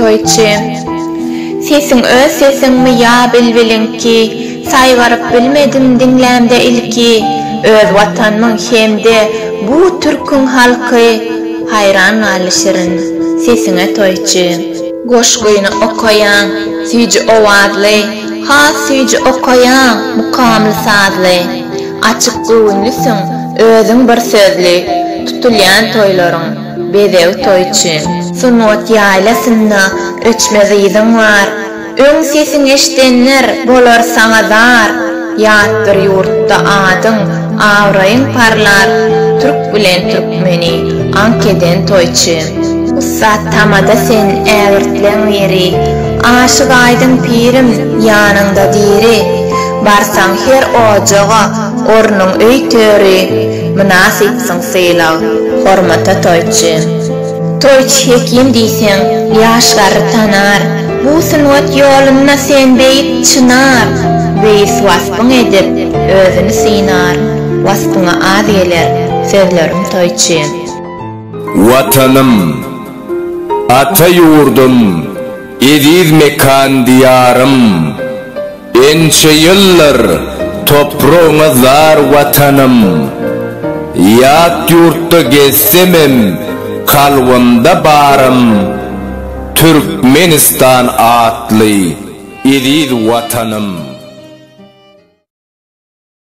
Toýçy. Sesiň öz sesiňmi ýa bilbiliňki, Saýgaryp bilmedim diňlämde ilki, Öz Watanmyň hem-de bu türküň halky, Haýran galdy şirin sesiňe toýçy. Goşgyny okaýaň, süýji owazly, Has süýji okaýaň, mukamly sazly. Açyk göwünlisiň, özüň bir sözli, Tutulýan toýlaryň, bezeg toýçy. Sungat ýaýlasynda öçmez yzyň bar, Öň sesiň eşdenler, bolar saňa zar. Ýat bir ýurtda adyň, abraýyň parlar, Türk bilen türkmeni aňk eden toýçy. Ussat tamada sen, ägirtleň biri, Aşyk aýdyň pirim, ýanyňda diri. Barsaň her ojaga, ornuň öý töri, Mynasypsyň sylag, hormata toýçy. Toýçy hekim diýseň, ýaşlary tanar, Bu sungat ýolunda sen beýik çynar. Beýis waspyň edip, özüni synar, Waspyňa az geler, sözlerim toýçy. Watanym, ata ýurdum, eziz mekan-diýarym! Ençe ýyllar topragyňa zar Watanym, Ýat ýurtda gezsemem kalbymda barym, Türkmenistan atly eziz Watanym.